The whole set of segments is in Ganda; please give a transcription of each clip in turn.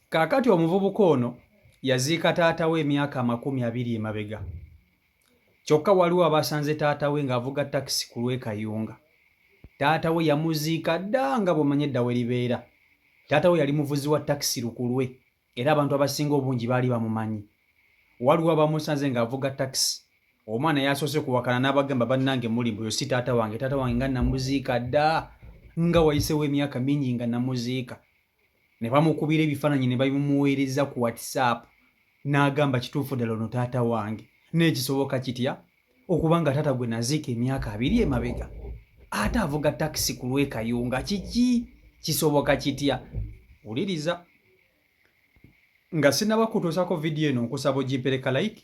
Kaakati omuvubuka ono yaziika taata we emyaka amakumi abiri emabega. Kyokka waliwo abaasanze taata we ng'avuga takisi ku lw'e Kayunga. Taata we yamuziika dda nga bw'omanyi edda we libeera. Taata we yali muvuzi wa takisi lukulwe era abantu abasinga obungi baali bamumanyi. Waliwo abamusanze ng'avuga takisi. Omwana yasoose kuwakana n'abagamba bannange muli mbu yo si taata wange, taata wange nga namuziika dda nga wayisewo emyaka mingi nga namuziika. ne bamukubira ebifaananyi ne babimuweereza ku WhatsApp n'agamba kituufu ddala ono taata wange naye kisoboka kitya okuba nga taata gwe naziika emyaka abiri emabega ate avuga takisi ku lwekayunga kiki kisoboka kitya wuliriza nga sinaba kutuusako vidiyo eno nkusaba ogimpereka like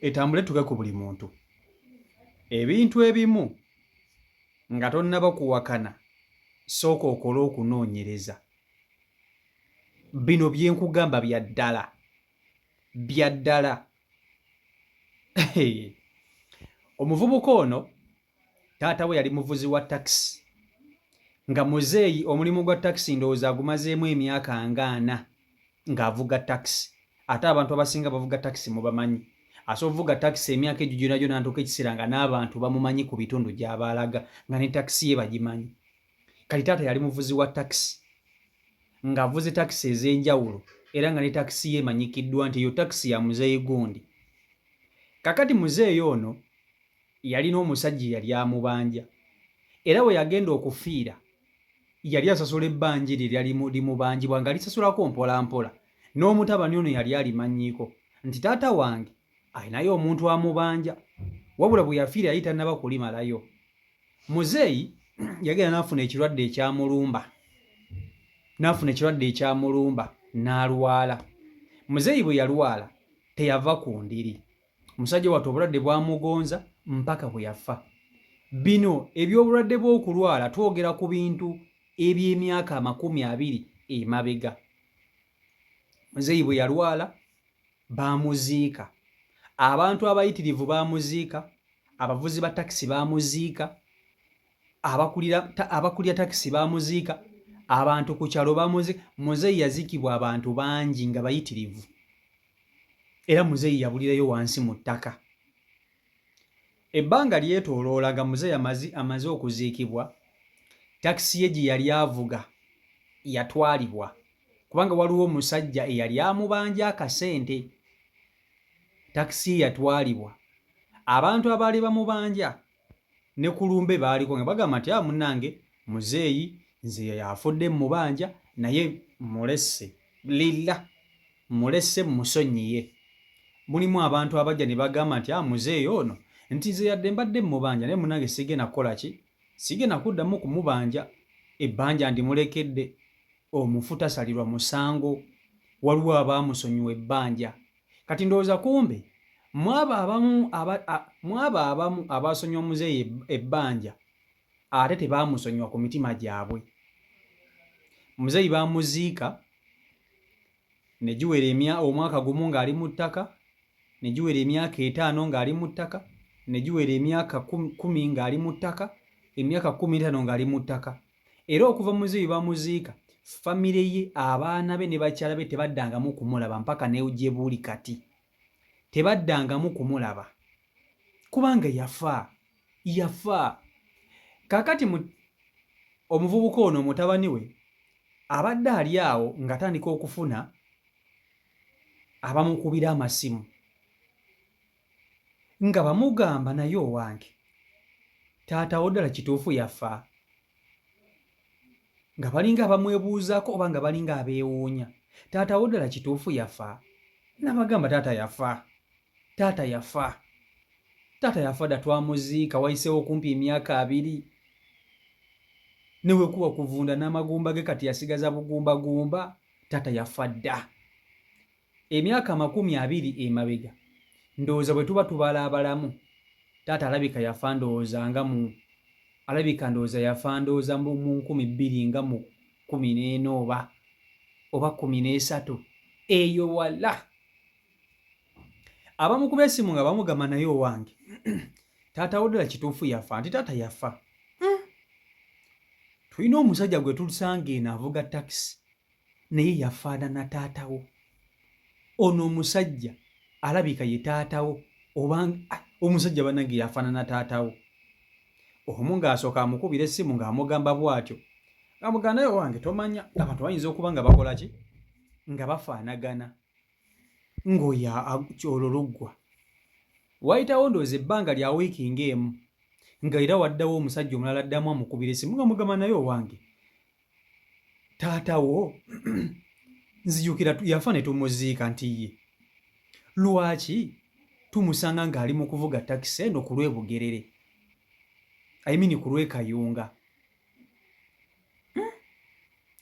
etambule tuke ku buli muntu ebintu ebimu nga tonnaba kuwakana sooka okole okunoonyereza bino byenkugamba bya ddala bya ddala omuvubuka ono taata we yali muvuzi wa takisi nga muzeeyi omulimu gwa takisi ndowooza agumazeemu emyaka ngaana ng'avuga takisi ate abantu abasinga bavuga takisi mubamanyi asa ovuga takisi emyaka egyo gyona gyona ntuuka ekiseera nga n'abantu bamumanyi ku bitundu gy'abaalaga nga ne takisi ye bagimanyi kati taata yali muvuzi wa takisi ng'avuze takisi ez'enjawulo era nga ne takisi ye emanyikiddwa nti eyo takisi ya muzeeyi gundi kakati muzeeyi ono yalina omusajja eyali amubanja era we yagenda okufiira yali asasula ebbanja eryo eryali limubanjibwa nga lisasulako mpolampola n'omutabani ono yali alimanyiiko nti taata wange alinayo omuntu amubanja wabula bwe yafiira yali tannaba kulimalayo muzeeyi yagenda n'afuna ekirwadde ekyamulumba n'afuna ekirwadde ekyamulumba n'alwala muzeeyi bwe yalwala teyava ku ndiri omusajja wattu obulwadde bwamugonza mpaka bwe yafa bino eby'obulwadde bw'okulwala twogera ku bintu eby'emyaka amakumi abiri emabega muzeeyi bwe yalwala baamuziika abantu abayitirivu baamuziika abavuzi ba takisi baamuziika abakulira takisi baamuziika abantu ku kyalo baamuziika muzeeyi yaziikibwa abantu bangi nga bayitirivu era muzeeyi yabulirayo wansi mu ttaka. Ebbanga lyetooloola nga muzeeyi amazi amaze okuziikibwa, takisi ye gye yali avuga yatwalibwa kubanga waliwo omusajja eyali amubanja akasente. Takisi ye yatwalibwa. Abantu abaali bamubanja ne ku lumbe baaliko nga bagamba nti a ah, munange muzeeyi nze afudde mumubanja naye mulese lila mulese musonyiye mulimu abantu abajja ne bagamba nti a ah, muzeeyi ono nti nze yadde mbadde mumubanja naye munange sigenda kukola ki sigenda kuddamu kumubanja ebbanja ndimulekedde omufu tasalirwa musango waliwo abaamusonyiwa ebbanja kati ndowooza kumbe mwabo abamu mwabo abamu abaasonyiwa omuzeeyi ebbanja ate tebaamusonyiwa ku mitima gyabwe omuzeeyi baamuziika ne giwera emya omwaka gumu ng'ali mu ttaka ne giwera emyaka etaano ng'ali mu ttaka ne giwera emyaka kumi ng'ali mu ttaka emyaka kumi etaano ng'ali mu ttaka era okuva muze bye bamuziika famire ye abaana be ne bakyala be tebaddangamu kumulaba mpaka negye buuli kati tebaddangamu kumulaba kubanga yafa yafa kakati omuvubuka ono mutabani we abadde ali awo ngatandika okufuna abamukubira amasimu nga bamugamba naye owange taata wo ddala kituufu yafa nga balinga abamwebuuzaako oba nga balinga abeewuunya taata wo ddala kituufu yafa nabagamba taata yafa taata yafa taata yafa dda twamuziika wayiseewo okumpi emyaka abiri newekuba kuvunda n'amagumba ge kati yasigaza bugumbagumba taata yafa dda emyaka amakumi abiri emabega ndowooza bwe tuba tubala abalamu taata alabika yafa ndowooza nga mu alabika ndowooza yafa ndowooza mu nkumi bbiri nga mu kumi n'ena oba oba kumi n'esatu eyo wala abamu kuba esimu nga bamugamba naye owange taata wodala kituufu yafa nti taata yafa hmm. tulina omusajja gwe tulusanga eno avuga takisi naye yafaanana taata wo ono omusajja alabika ye taata wo oba ah, omusajja banange yafaanana taata wo omu ng'asooka amukubira essimu ng'amugamba bw'atyo amugamba naye owange tomanya abantu bayinza okuba nga bakola ki nga bafaanagana ng'oyo kyolo luggwa wayitawo ndowooza ebbanga lya wiiki ng'emu nga era waddawo omusajja omulala addamu amukubira essimu nga mugamba naye owange taata wo nzijukira yafa ne tumuziika nti ye lwaki tumusanga ng'ali mu kuvuga takisi eno ku lw'e bugerere ayimini ku lw'e kayunga hmm?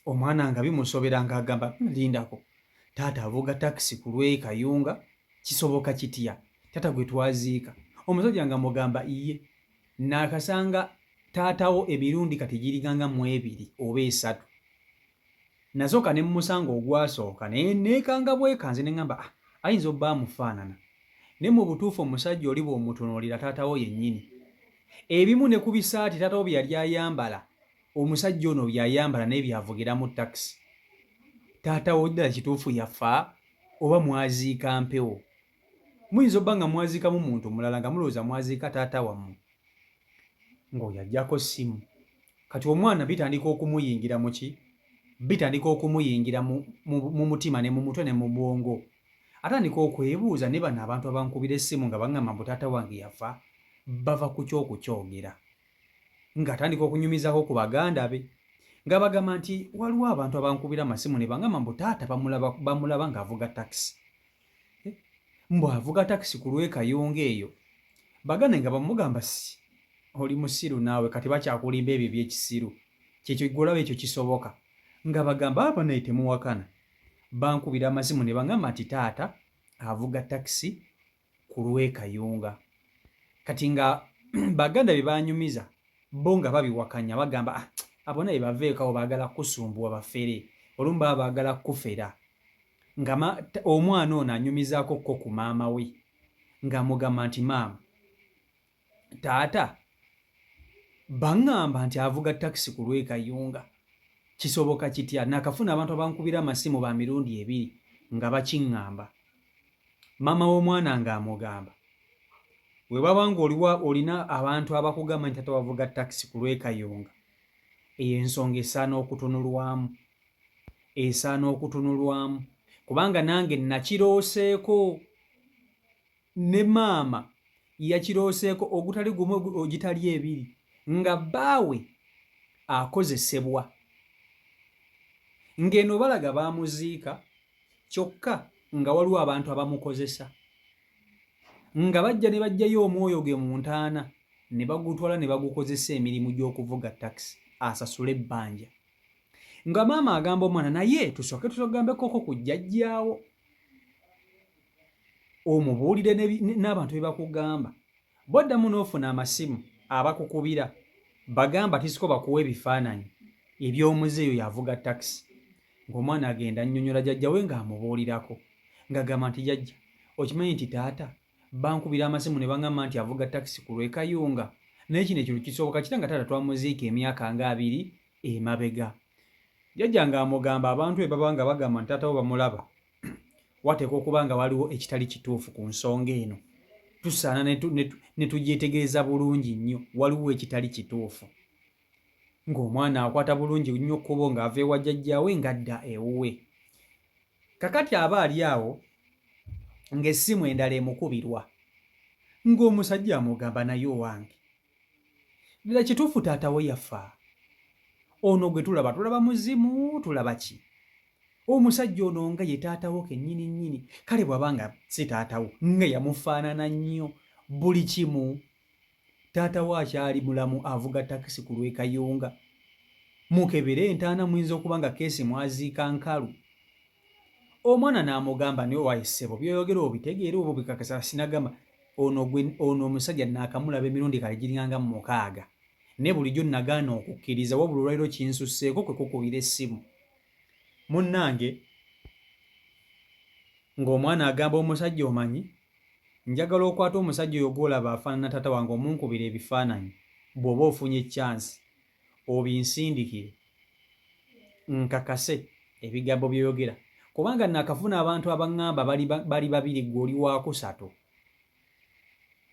omwana nga bimusobera ng'agamba hmm, lindako taata avuga takisi ku lw'e kayunga kisoboka kitya taata gwe twaziika omusajja nga mugamba iye nakasanga taatawo emirundi kati giriganga mu ebiri oba esatu nasooka ne mumusanga ogwasooka naye neekanga bwekanze ne ŋamba ah, ayinza obba amufaanana ne mu butuufu omusajja oli bw'omutunuulira taatawo yennyini ebimu ne ku bisaati taatawo bye yali ayambala omusajja ono byayambala naye byavugiramu takisi taatawo ddala kituufu yafa oba mwaziika mpewo muyinza obba nga mwaziikamu muntu omulala nga mulowooza mwaziika taata wammwe ng'oyo ajjako ssimu kati omwana bitandika okumuyingira muki bitandika okumuyingira mu mutima ne mu mutwe ne mu bwongo atandika okwebuuza ne bano abantu abankubira essimu nga baŋŋamba mbu taata wange yafa bava ku kyokukyogera ng'atandika okunyumizako ku baganda be nga bagamba nti waliwo abantu abankubira amasimu ne baŋŋamba mbu taata bamulaba ng'avuga takisi eh, mbu avuga takisi ku lwekayonga eyo baganda nga bamugamba si oli musiru naawe kati bakyakulimba ebyo ebyekisiru kyekyo golaba ekyo kisoboka nga bagamba aba ah, naye temuwakana bankubira amazimu ne bangamba nti taata avuga takisi ku lwekayonga kati nga baganda bye banyumiza bo nga babiwakanya bagamba ah, abo naye baveekawo baagala kusumbuwa bafere olumu baba baagala kufera nga omwana ono anyumizaako kko ku maama we ng'amugamba nti maama taata baŋŋamba nti avuga takisi ku lw'e Kayunga kisoboka kitya nakafuna abantu abankubira amasimu ba mirundi ebiri nga bakiŋŋamba maama w'omwana ng'amugamba we baba ng'oliwa olina abantu abakugamba nti tata wavuga takisi ku lw'e Kayunga eyo ensonga esaana okutunulwamu esaana okutunulwamu kubanga nange nakirooseeko ne maama yakirooseeko ogutali gumu ogitali ebiri nga bbaawe akozesebwa ng'eno balaga baamuziika kyokka nga waliwo abantu abamukozesa nga bajja ne bajjayo omwoyo ge mu ntaana ne bagutwala ne bagukozesa emirimu gy'okuvuga takisi asasule ebbanja nga maama agamba omwana naye tusooke tutogambekoko ku jjajjaawo omubuulire n'abantu be bakugamba boddamu n'ofuna amasimu abakukubira bagamba tisiko bakuwa ebifaananyi eby'omuze eyo yavuga takisi ng'omwana agenda annyonnyola jjajjawe ng'amubuulirako ng'agamba nti jajja okimanyi nti taata bankubira amasimu ne bangamba nti avuga takisi ku lw'e Kayunga naye kino ekintu kisoboka kitya nga taata twamuziika emyaka nga abiri emabega jjajja ng'amugamba abantu be baba nga bagamba nti taata bo bamulaba wateekwa okuba nga waliwo ekitali kituufu ku nsonga eno tusaana ne tugyetegereza bulungi nnyo waliwo ekitali kituufu ng'omwana akwata bulungi nnyo kkubo ng'ava ewa jjajjaawe ng'adda ewuwe. Kakati aba ali awo ng'essimu endala emukubirwa ng'omusajja amugamba naye owange ddala kituufu taatawo yafa ono gwe tulaba tulaba muzimu tulaba ki omusajja ono nga ye taatawo kennyini nnyini kale bw'aba nga si taatawo nga yamufaanana nnyo buli kimu Taata we akyali mulamu avuga takisi ku lw'e Kayunga. Mukebere entaana muyinza okuba nga keesi mwaziika nkalu. Omwana n'amugamba nti owaye ssebo by'oyogera obitegeera oba obikakasa sinagamba ono gwe ono omusajja naakamulaba emirundi kale giringanga mu mukaaga naye bulijjo nagaana okukkiriza wabula olwaliro kinsusseeko kwe kukubira essimu munnange ng'omwana agamba omusajja omanyi Njagala okwate omusajja oyo gwolaba afanana tata wange omunkubire ebifananyi bwoba ofunye chance obinsindikire nkakase ebigambo byoyogera kubanga nakafuna abantu abangamba bali babiri gwe oli wakusatu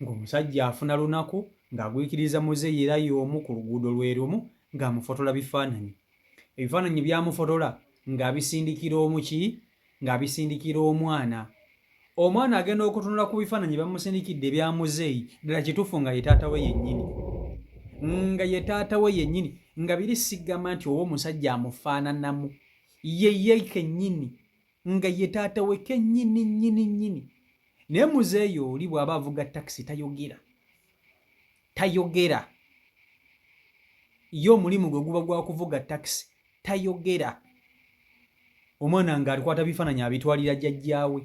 ngomusajja afuna lunaku ngagwikiriza muze yera yomu ku luguudo lwerumu ngamufotola bifananyi ebifananyi byamufotola ngabisindikira omuki ng'abisindikira omwana. Omwana agenda okutunula ku bifaananyi bamusindikidde ebya muzeeyi, ddala kituufu nga ye taata we yennyini, nga ye taata we yennyini, nga biri sigamba nti oba omusajja amufaananamu, ye ye kennyini, nga ye taata we kennyini nnyini nnyini. Naye muzeeyi oli bw'aba avuga takisi tayogera, tayogera ye omulimu gwe guba gwa kuvuga takisi tayogera omwana nga alikwata bifaananyi abitwalira jjajjaawe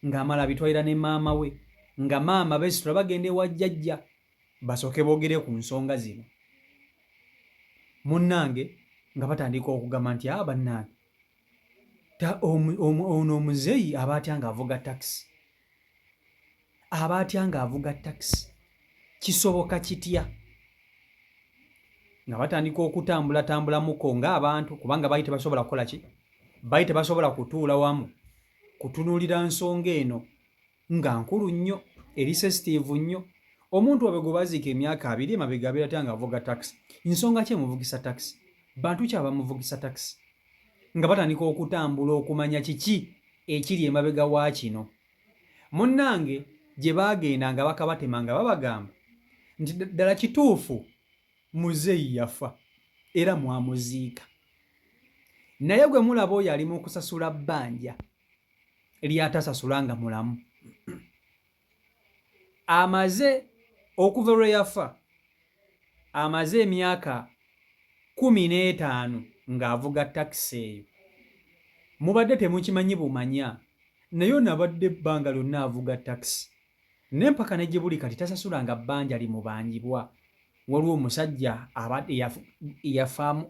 ng'amala abitwalira ne maama we nga maama besitula bagenda ewa jjajja basooke boogere ku nsonga zino munnange nga batandika okugamba nti a ah, bannange ono omuzeeyi aba atya ng'avuga takisi aba atya ng'avuga takisi kisoboka kitya nga batandika okutambulatambulamukko ng'abantu kubanga baali tebasobola kukola ki baali tebasobola kutuula wamu kutunuulira nsonga eno nga nkulu nnyo eri sesitiivu nnyo omuntu wabe gwe baziika emyaka abiri emabega abeera tya ng'avuga takisi nsonga ki emuvugisa takisi bantu ki abamuvugisa takisi nga batandika okutambula okumanya kiki ekiri emabega wa kino. Munnange gye baagenda nga bakabatema nga babagamba nti ddala kituufu muzeeyi yafa era mwamuziika naye gwe mulaba oyo ali mu kusasula bbanja ly'atasasula nga mulamu. amaze okuva lwe yafa amaze emyaka kkumi n'etaano ng'avuga takisi eyo. Mubadde temukimanyi bumanya naye ono abadde ebbanga lyonna avuga takisi ne mpaka ne gye buli kati tasasulanga bbanja limubanjibwa. Waliwo omusajja abadde yafaamu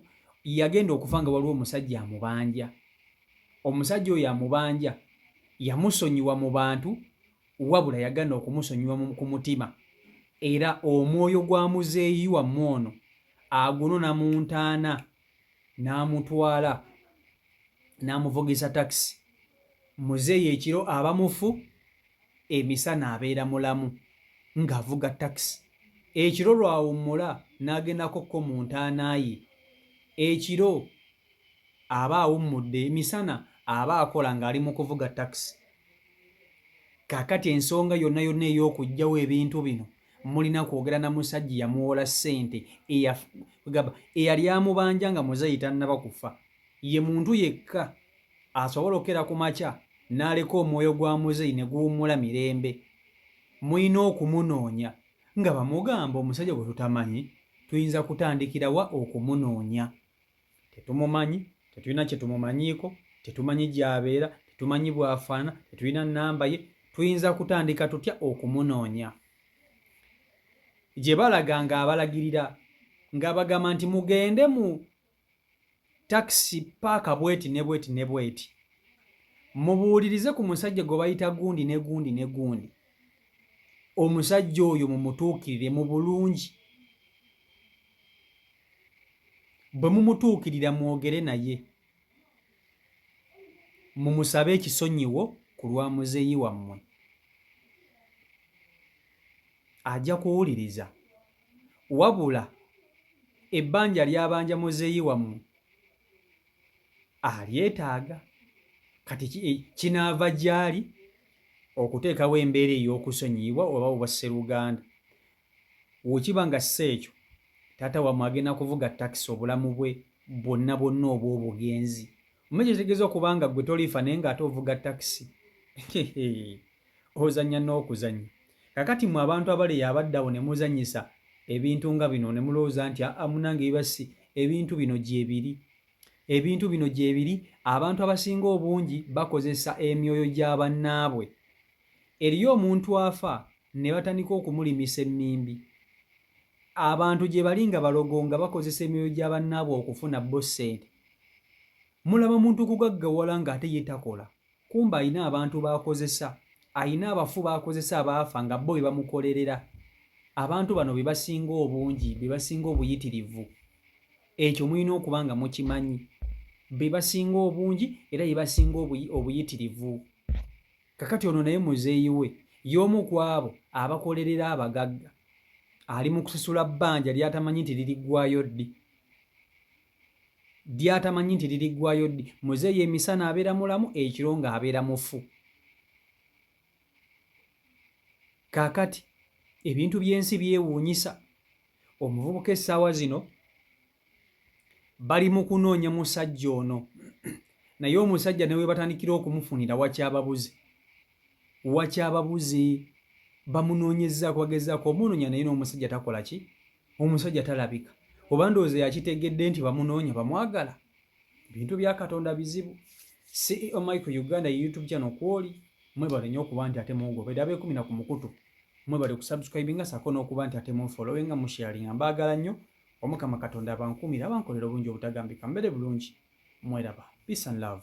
yagenda okufa nga waliwo omusajja amubanja omusajja oyo amubanja yamusonyiwa mu bantu wabula yagana okumusonyiwa ku mutima era omwoyo gwa muzeeyi wammwe ono agunona mu ntaana n'amutwala n'amuvugisa takisi muzeeyi ekiro aba mufu emisana abeera mulamu ng'avuga takisi ekiro lwawummula n'agendako ko mu ntaana ye ekiro aba awummudde emisana aba akola ng'ali mu kuvuga takisi kakati ensonga yonna yonna ey'okugjawo ebintu bino mulina kwogera na musajja yamuwola ssente gamba eyali amubanja nga muzeeyi tannaba kufa ye muntu yekka asobola okukera ku makya n'aleka omwoyo gwa muzeeyi ne guwummula mirembe mulina okumunoonya nga bamugamba omusajja gwe tutamanyi tuyinza kutandikira wa okumunoonya tetumumanyi tetulina kyetumumanyiiko tetumanyi gyabeera tetumanyi bwafaana tetulina namba ye tuyinza kutandika tutya okumunoonya gye balaga nga abalagirira nga bagamba nti mugende mu takisi paaka bweti ne bweti ne bweti mubuulirize ku musajja gwe bayita gundi ne gundi ne gundi omusajja oyo mumutuukirire mu bulungi bwe mumutuukirira mwogere naye mumusabe ekisonyiwo ku lwa muzeeyi wammwe ajja kuwuliriza wabula ebbanja lyabanja muzeeyi wammwe alyetaaga kati eh, kinaava gyali okuteekawo embeera ey'okusonyiyibwa oba obwasseruganda Wekiba nga si ekyo, taata wamwe agenda kuvuga taxi obulamu bwe bwonna bwonna obw'obugenzi. Omanyi kyekitegeza okuba nga gwe toliifa naye nga ate ovuga taxi? Hehe. Ozanya n'okuzanya. Kakati mwe abantu abaleya abadde awo ne muzanyisa ebintu nga bino ne mulowooza nti aa munange biba si ebintu bino gyebiri. Ebintu bino gyebiri abantu abasinga obungi bakozesa emyoyo gya bannaabwe Eriyo omuntu afa nebatandika okumulimisa emmimbi. Abantu gyebali nga balogo nga bakozesa emyoyo gya bannaabwe okufuna bbo ssente. Mulaba muntu kugaggawala nga ate ye takola kumbe alina abantu b'akozesa, alina abafu b'akozesa abaafa nga bbo bebamukolerera. Abantu bano bebasinga obungi, bebasinga obuyitirivu. Ekyo mulina okuba nga mukimanyi. Bebasinga obungi era bebasinga obuyitirivu. Kakati ono naye muzeeyi we y'omu ku abo abakolerera abagagga. Ali mu kusasula bbanja ly'atamanyi nti liriggwaayo ddi ly'atamanyi nti liriggwaayo ddi. Muzeeyi emisana abeera mulamu, ekiro ng'abeera mufu. Kaakati ebintu by'ensi byewuunyisa. Omuvubuka essaawa zino bali mu kunoonya musajja ono naye omusajja ne webatandikira okumufunira wakyababuze wakyababuze bamunoonyezaako bagezaako omunoonya naye n'omusajja takola ki omusajja talabika oba ndowooza yakitegedde nti bamunoonya bamwagala ebintu bya katonda bizibu ceo mike uganda youtube channel kwoli mwebale nyo okuba nti ate mungobera abekumina ku mukutu mwebale kusubscribinga sako n'okuba nti ate munfollowinga musharinga mbaagala nnyo omukama katonda abankuumire abankolera obulungi obutagambika mbeere bulungi mweraba peace and love.